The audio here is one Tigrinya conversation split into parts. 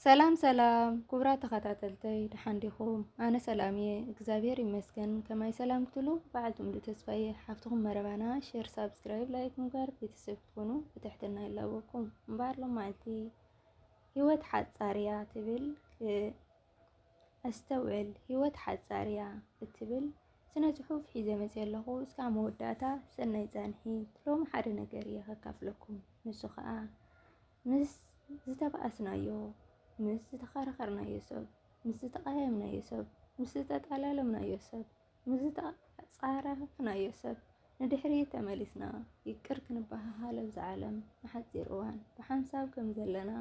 ሰላም ሰላም ኩቡራት ተኻታተልተይ ደሓን ዲኹም ኣነ ሰላም እየ እግዚኣብሔር ይመስገን ከማይ ሰላም ክትሉ በዓልቲ ሙሉእ ተስፋ እየ ሓፍትኹም መረባና ሼር ሳብስክራይብ ላይክ ምግባር ቤተሰብ ክትኮኑ ብትሕትና ይላበኩም እምበኣር ሎማዓልቲ ህይወት ሓጻር እያ ትብል ኣስተውዕል ህይወት ሓጻር እያ እትብል ስነ ጽሑፍ ሒዘ መጽ ኣለኹ እስካብ መወዳእታ ሰናይ ጻንሒት ሎሚ ሓደ ነገር እየ ከካፍለኩም ንሱ ከዓ ምስ ዝተባኣስናዮ፣ ምስ ዝተኻራኸርናዮ ሰብ፣ ምስ ዝተቓየምናዮ ሰብ፣ ምስ ዝተጣላለምናዮ ሰብ፣ ምስ ዝተጻረፍናዮ ሰብ ንድሕሪት ተመሊስና ይቅር ክንበሃሃል ኣብዛ ዓለም ንሓጺር እዋን ብሓንሳብ ከምዘለና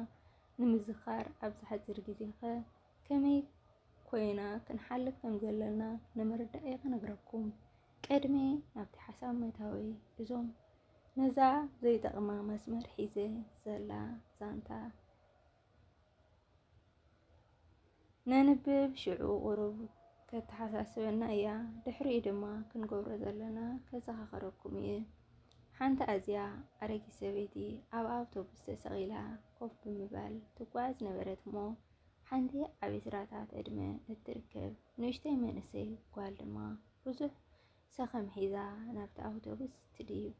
ንምዝኻር ኣብዛ ሓጺር ግዜ'ኸ ከመይ ኮይና ክንሓልፍ ከምዘለና ንምርዳእ'የ ክነግረኩም። ቅድሚ ናብቲ ሓሳብ ምእታወይ እዞም ነዛ ዘይጠቕማ መስመር ሒዘ ዘላ ዛንታ ነንብብ ሽዑ ቁሩብ ከተሓሳስበና እያ፣ ድሕሪኡ ድማ ክንገብሮ ዘለና ከዘኻኸረኩም እየ። ሓንቲ ኣዝያ ኣረጊት ሰበይቲ ኣብ ኣውቶቡስ ተሰቒላ ኮፍ ብምባል ትጓዓዝ ነበረት እሞ ሓንቲ ዓብ ስራታት ዕድመ እትርከብ ንእሽተይ መንእሰይ ጓል ድማ ብዙሕ ሰኸም ሒዛ ናብቲ ኣውቶቡስ ትድይብ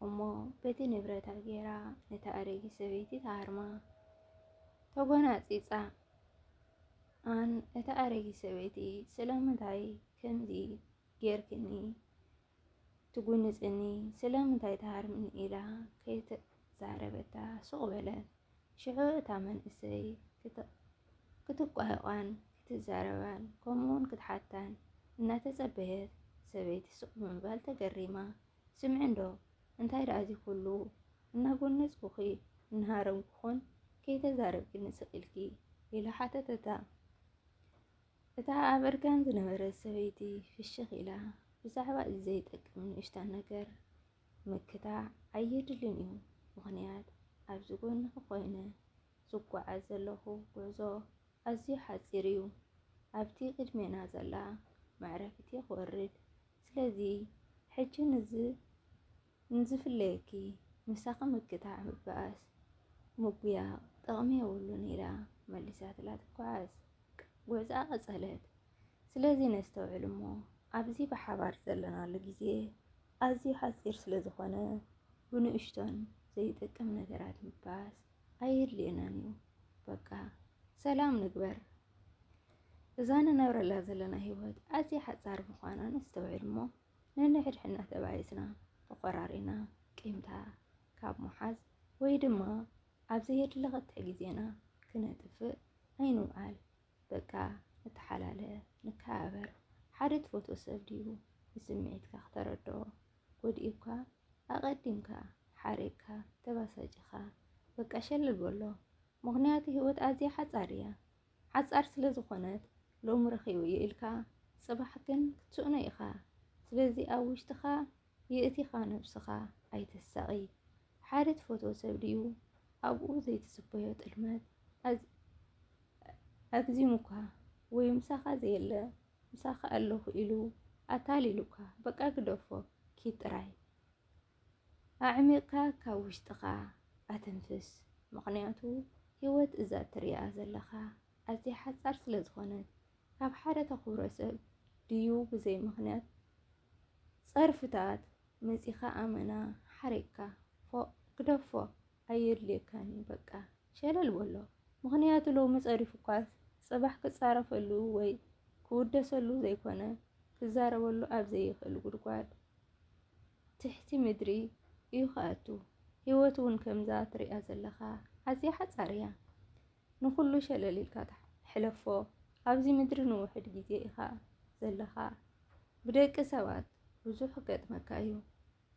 እሞ በቲ ንብረታ ጌራ ነታ ኣረጊት ሰበይቲ ትሃርማ። ተጎናጺጻ ኣን እታ ኣረጊት ሰበይቲ ስለምንታይ ከምዚ ጌርክኒ ትጉንጽኒ ስለምንታይ ትሃርምኒ ኢላ ከይተዛረበታ ሱቕ በለት። ሽዑ እታ መንእሰይ ክትቋሕቋን ክትዛረባን ከምኡውን ክትሓታን እናተጸበየት ሰበይቲ ስቕ ብምባል ተገሪማ ስምዒ እንዶ እንታይ ደኣ እዚ ኩሉ እናጎነጽኩኺ እናሃረምኩኹን ከይተዛረብክኒ ስቕ ኢልኪ ኢላ ሓተተታ። እታ ኣብ እርጋን ዝነበረት ሰበይቲ ፍሽኽ ኢላ ብዛዕባ እዚ ዘይጠቅም ንእሽታ ነገር መከታ ኣየድልን እዩ። ምኽንያት ኣብዚ ጎንኺ ኮይነ ዝጓዓዝ ዘለኹ ጉዕዞ ኣዝዩ ሓጺር እዩ። ኣብቲ ቅድሜና ዘላ መዕረፊት'የ ክወርድ። ስለዚ ሕጂ ንዝፍለየኪ ምሳኺ ምክታዕ ምብኣስ ምጉያቕ ጥቕሚ የብሉን ኢላ መሊሳትላ ትጓዓዝ። ጉዕዝኣ ቀጸለት። ስለዚ ነስተውዕል እሞ ኣብዚ ብሓባር ዘለናሉ ግዜ ኣዝዩ ሓጺር ስለ ዝኾነ ብንእሽቶን ዘይጠቅም ነገራት ምባስ ኣየድልየናን እዩ። በቃ ሰላም ንግበር። እዛ ንነብረላ ዘለና ህይወት ኣዝያ ሓጻር ምዃና ነስተውዕል እሞ ነንሕድሕድና ተባኢስና ተኾራሪና ቂምታ ካብ ምሓዝ ወይ ድማ ኣብ ዘየድሊ ክትዕ ግዜና ክነጥፍእ ኣይንውዓል። በቃ ንተሓላለ፣ ንከባበር፣ ሓደ ትፈትዎ ሰብ ድዩ ንስምዒትካ ክተረድኦ ጎዲኡካ ኣቐዲምካ ሓሪቕካ ተባሳጪኻ በቃ ሸለል በሎ ምኽንያቱ ህይወት ኣዝያ ሓጻር እያ ሓጻር ስለ ዝኾነት ሎሚ ረኺበዮ ኢልካ ጽባሕ ግን ክትስእኖ ኢኻ ስለዚ ኣብ ውሽጥኻ የእቲኻ ነብስኻ ኣይተሳቒ ሓደ ትፈትዎ ሰብ ድዩ ኣብኡ ዘይትጽበዮ ጥልመት ኣግዚሙካ ወይ ምሳኻ ዘየለ ምሳኻ ኣለኹ ኢሉ ኣታሊሉካ በቃ ግደፎ ኪድ ጥራይ ኣዕሚቕካ ካብ ውሽጥኻ ኣተንፍስ ምኽንያቱ ህይወት እዛ እትሪኣ ዘለኻ ኣዝያ ሓጻር ስለ ዝኾነት ካብ ሓደ ተኽብሮ ሰብ ድዩ ብዘይ ምኽንያት ጸርፍታት መጺኻ ኣመና ሓሪቕካ ፎእ ግደፎ ኣየድልየካን እዩ በቃ ሸለል በሎ ምኽንያቱ ሎሚ ጸሪፉኳስ ጽባሕ ክጻረፈሉ ወይ ክውደሰሉ ዘይኮነ ክዛረበሉ ኣብ ዘይኽእል ጉድጓድ ትሕቲ ምድሪ እዩ ክኣቱ ህይወት እውን ከምዛ ትሪኣ ዘለኻ ኣዝያ ሓጻር እያ ንኹሉ ሸለል ኢልካ ሕለፎ ኣብዚ ምድሪ ንውሕድ ግዜ ኢኻ ዘለኻ ብደቂ ሰባት ብዙሕ ክገጥመካ እዩ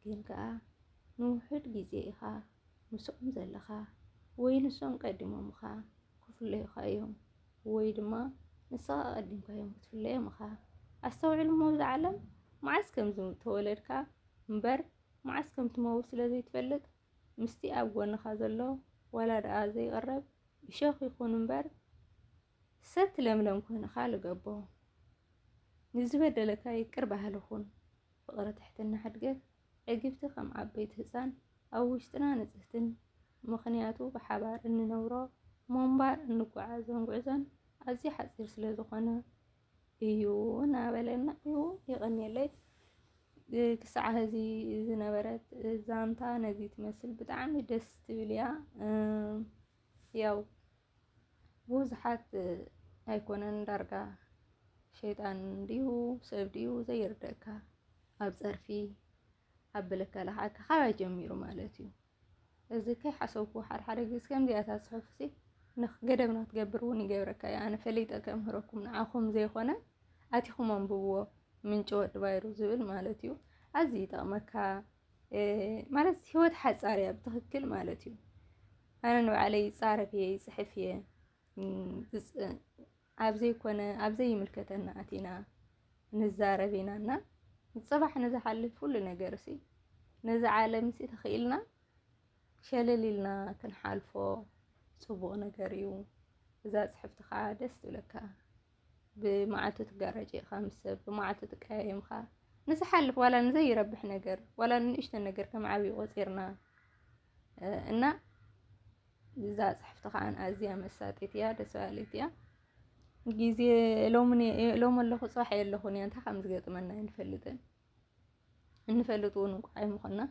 ግን ከኣ ንውሑድ ግዜ ኢኻ ምስኦም ዘለኻ ወይ ንሶም ቀዲሞምኻ ክፍለዩኻ እዮም ወይ ድማ ንስኻ ቀዲምካዮም ክትፍለዮም እኻ። ኣስተውዕል እሞ እዛ ዓለም መዓስ ከም ዝተወለድካ እምበር መዓስ ከም ትመውት ስለ ዘይትፈልጥ ምስቲ ኣብ ጎንኻ ዘሎ ዋላ ደኣ ዘይቕረብ እሾኽ ይኹን እምበር ሰቲ ለምለም ኮይንኻ ልገቦ ንዝበደለካ ይቅር በሃሊ ኹን ፍቅሪ ትሕትና ሕድገት ዕግብቲ ከም ዓበይቲ ህፃን ኣብ ውሽጥና ንፅህትን ምኽንያቱ ብሓባር እንነብሮ ሞንባር እንጓዓዞን ጉዕዞን ኣዝዩ ሓፂር ስለ ዝኾነ እዩ እናበለና እዩ የቀንየለይ ክሳዕ ሀዚ ዝነበረት ዛንታ ነዚ ትመስል ብጣዕሚ ደስ ትብል እያ ያው ብዙሓት ኣይኮነን ዳርጋ ሸይጣን ድዩ ሰብ ድዩ ዘይርደእካ ኣብ ፀርፊ ኣብ ብልከላ ከዓ ካባይ ጀሚሩ ማለት እዩ እዚ ከይሓሰብኩ ሓደ ሓደ ግዜ ከምዚኣታ ፅሑፍ እዚ ገደብ ንክትገብር እውን ይገብረካ እዩ ኣነ ፈሊጠ ከምህረኩም ንዓኹም ዘይኮነ ኣቲኹም ኣንብብዎ ምንጪ ወዲ ባይሩ ዝብል ማለት እዩ ኣዝዩ ይጠቕመካ ማለት ህይወት ሓፃር እያ ብትኽክል ማለት እዩ። ኣነ ንባዕለይ ይፃረፍ እየ ይፅሕፍ እየ ኣብ ዘይኮነ ኣብ ዘይምልከተና ኣቲና ንዛረብ ኢና እና ፅባሕ ንዝሓልፍ ኩሉ ነገር ሲ ነዚ ዓለም ሲ ተኽኢልና ሸለል ኢልና ክንሓልፎ ፅቡቕ ነገር እዩ። እዛ ፅሕፍቲ ከዓ ደስ ትብለካ። ብመዓልቱ ትጋራጭ ኢኻ ምስ ሰብ ብመዓልቱ ትቀያየም ኢኻ ንዝሓልፍ ዋላ ንዘይረብሕ ነገር ዋላ ንንእሽተን ነገር ከም ዓብዪ ቆፂርና እና እዛ ፅሕፍቲ ከዓ ኣዝያ መሳጢት እያ ደስ በሃሊት እያ ግዜ ሎሚ ኣለኹ ፅባሕ የለኹን እያ እንታይ ከም ዝገጥመና ኣይንፈልጥን እንፈልጥ እውን እንኳ ኣይምኾና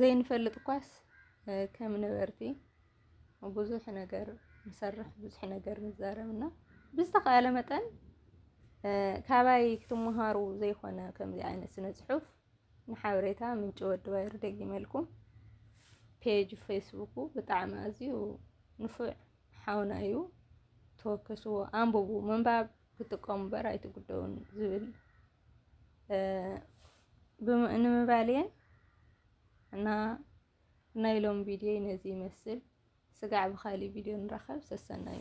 ዘይንፈልጥ እኳስ ከም ነበርቲ ብዙሕ ነገር ንሰርሕ ብዙሕ ነገር ንዛረብ እና ብዝተኸኣለ መጠን ካባይ ክትመሃሩ ዘይኮነ ከምዚ ዓይነት ስነ ፅሑፍ ንሓበሬታ ምንጪ ወዲ ባይር ደጊመልኩም ፔጅ ፌስቡኩ ብጣዕሚ ኣዝዩ ንፉዕ ሓውና እዩ ተወከስዎ ኣንብቡ ምንባብ ክትጥቀሙ እምበር ኣይትጉደውን ዝብል ንምባልየ እና ናይ ሎም ቪድዮ ነዚ ይመስል። ስጋዕ ብካሊእ ቪድዮ ንራኸብ። ሰሰናዩ